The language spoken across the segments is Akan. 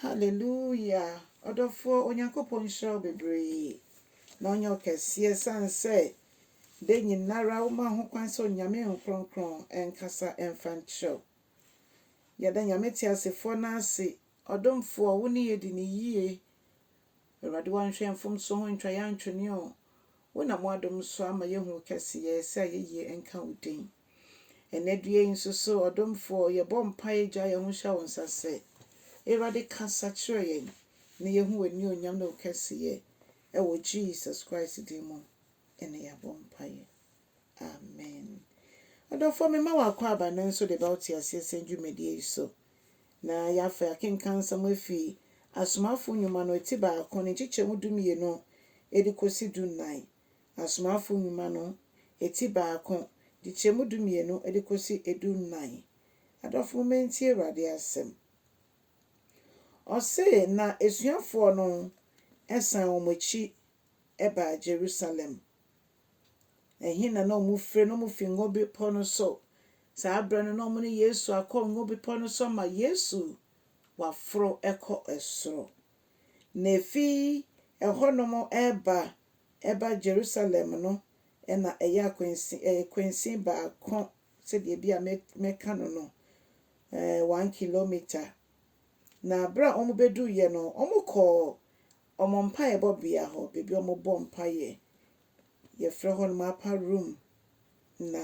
Hallelujah ɔdɔfoɔ Onyankopɔn nhyira wo bebree na ɔnyɛ wo kɛseɛ sane sɛ da nyinara wo ma ho kwan sɛ Onyame nkrɔnkrɔn nkasa mfa nkyerɛ wo. Yɛda Nyame teasefoɔ no ase, ɔdomfoɔ wo ne yɛdi no yie Awurade wanhwɛ mfomso ho ntwa yɛn antwene o Wo nam w'adom so ama yɛahu wo kɛseyɛ, sɛ ayɛyie nka wo din Ɛnnɛ due yi nso so ɔdomfoɔ, yɛbɔ mpaeɛ gyaa yɛn ho hyɛ wo nsa sɛ, Awurade kasa kyerɛ yɛn na yɛhu w'anionyam ne wo kɛseyɛ Ɛwɔ Jesus Christ din mu na yɛabɔ mpaeɛ. Amen. Ɔdɔfoɔ, mema wo akwaaba no nso de ba wo teaseɛsɛm dwumadie yi so. Na yɛafa akenkansɛm afi Asomafoɔ Nnwuma no ti baako ne nkyekyɛmu dumienu de kɔsi dunnan, Asomafoɔ Nnwuma no ti baako, nkyekyɛmu dumienu de kɔsi dunnan. Adɔfo, momma yɛntie Awurade asɛm. Ɔse, Na asuafoɔ no san wɔn akyi baa Jerusalem. Ɛhe na na wɔfrɛ no? Wɔfi Ngo Bepɔ no so. Saa berɛ no, na wɔne Yesu akɔ Ngo Bepɔ no so ama Yesu waforo kɔ soro. Na ɛfi ɛhɔnom reba ba Jerusalem no, na ɛyɛ akwansin, ɛyɛ kwansin baako sɛdeɛ bi a mɛka no no, one kilometer. Na berɛ a wɔbɛduruiɛ no, wɔkɔɔ wɔn mpaebɔ bea hɔ, baabi a wɔbɔ mpaeɛ. Yɛfrɛ hɔnom upper room. Na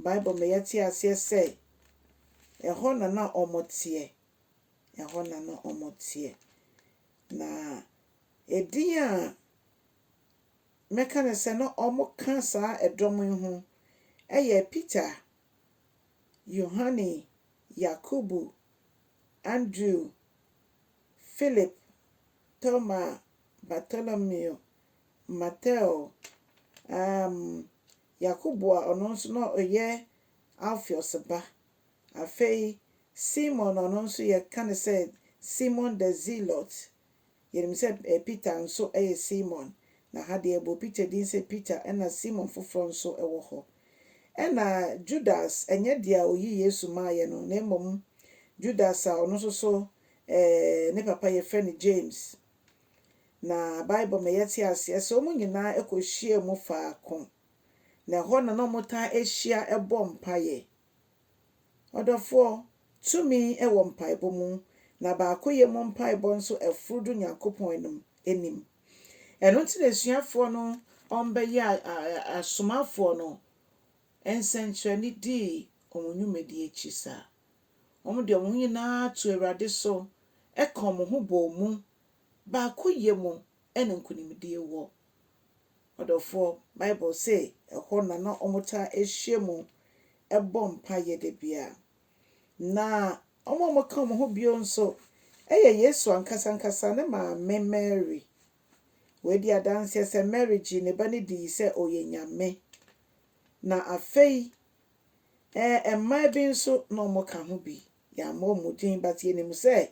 Bible ma yɛte aseɛ sɛ, ɛhɔ na na wɔteɛ. Ɛhɔ na na wɔteɛ. Na edin a mɛka no sɛ na wɔka saa dɔm yi ho yɛ Peter, Yohane, Yakobo, Andrew, Philip, Toma, Bartolomeo, Mateo, um, Yakobo a ɔno nso na ɔyɛ Alpheus ba, afei Simon a ɔno nso yɛka no sɛ Simon the Zealot, yɛnim sɛ eh, Peter nso yɛ Simon, na ha deɛ yɛbɔ Peter din sɛ Peter, ɛna Simon foforɔ nso wɔ hɔ. Ɛna Judas, ɛnyɛ deɛ a ɔyi Yesu maaeɛ no, na mmom Judas a ɔno nso so Ɛɛ, ne papa yɛfrɛ no James. Na Bible ma yɛte aseɛ sɛ wɔn nyinaa kɔhyiaa mu faako, na ɛhɔ na na wɔtaa hyia bɔ mpaeɛ. Ɔdɔfoɔ, tumi wɔ mpaebɔ mu, na baakoyɛ mu mpaebɔ nso foro du Nyankopɔn anom anim. Ɛno nti na asuafoɔ no bɛyɛɛ asomafoɔ no nsɛnkyerɛnne dii wɔn nnwumadie akyi saa. Wɔde wɔn ho nyinaa too Awurade so ka wɔn ho bɔɔ mu. Baakoyɛ mu na nkonimdie wɔ. Ɔdɔfoɔ, Bible se ɛhɔ na na wɔtaa hyia mu bɔ mpaeɛ da biara. Na wɔn a wɔka wɔn ho bio nso yɛ Yesu ankasa ankasa ne maame Mary. Wei di adanseɛ sɛ Mary gyee ne ba no dii sɛ ɔyɛ Nyame. Na afei, Ɛɛ mmaa bi nso na wɔka ho bi. Yɛammɔ wɔn din but yɛnim sɛ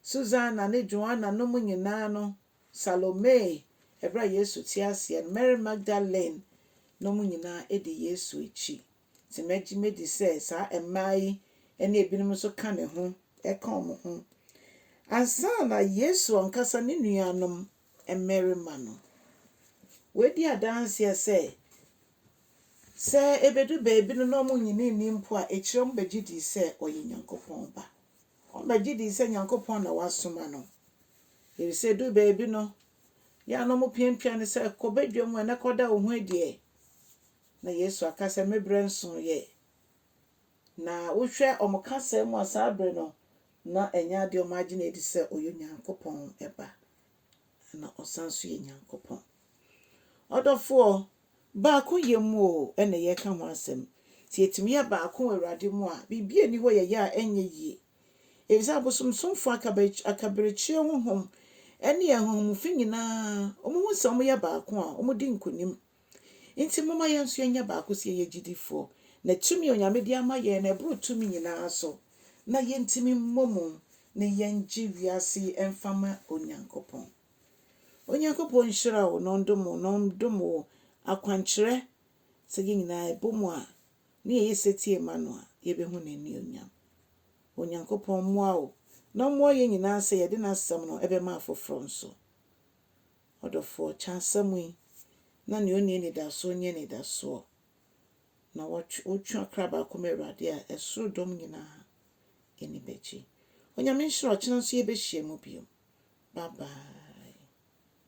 Susanna ne Joanna nom nyinaa no, Salome, ɛberɛ a Yesu te aseɛ no, Mary Magdalene nom nyinaa di Yesu akyi. Nti mɛgye mɛdi sɛ saa mmaa yi ne ebinom nso ka ne ho, ka wɔn ho. Ansa na Yesu ankasa ne nuanom mmarima no. Wɔadi adanseɛ sɛ, sɛ ɛbɛdu baabi no na wɔnnyini nni mpo a, akyire wɔbɛgye dii sɛ ɔyɛ Nyankopɔn Ba. Wɔbɛgye dii sɛ Nyankopɔn na wasoma no. Ɛfiri sɛ ɛduu baabi no, yɛ a na wɔpiapia no sɛ, Kɔ badwam hɔ na kɔda wo ho adi ɛ. Na Yesu aka sɛ, Me berɛ nsooɛ. Na wohwɛ wɔn kasaa mu a, saa bere no, na ɛnyɛ ade a wɔagye no adi sɛ ɔyɛ Onyankopɔn Ba, na ɔsan nso yɛ Nyankopɔn. Ɔdɔfoɔ, baakoyɛ mu o na yɛreka ho asɛm. Sɛ yɛtumi yɛ baako wɔ Awurade mu a, biribi nni hɔ yɛyɛ a ɛnyɛ yie. Ɛfiri sɛ abosomsomfoɔ, akaberekyeɛ honhom ne ahonhom fi nyinaa, wɔhu sɛ wɔyɛ baako a, wɔdi nkonim. Enti momma yɛn nso yɛnyɛ baako sɛ yɛyɛ gyidifoɔ, na tumi a Onyame de ama yɛn no ɛboro tumi nyinaa so, na yɛntumi mmɔ mu ne yɛngye wiase yi mfa ma Onyankopɔn. Onyankopɔn nhyira wo na ɔndom wo na ɔndom wo akwankyerɛ sɛ yɛn nyinaa ɛbɔ mu a ne yɛyɛ setie ma no a yɛbɛhu n'anuonyam. Onyankopɔn mmoa wo na ɔmmoa yɛn nyinaa sɛ yɛde n'asɛm no ɛbɛma afoforɔ nso. Ɔdɔfoɔ, kyɛ asɛm yi, na nea ɔnni anidasoɔ nya anidasoɔ, na wɔtwe, wotwe ɔkra baako ma Awurade a, ɛsoro dɔm nyina ara ani bɛgye. Onyame nhyira, ɔkyena nso yɛbɛhyia mu bio. Bye bye.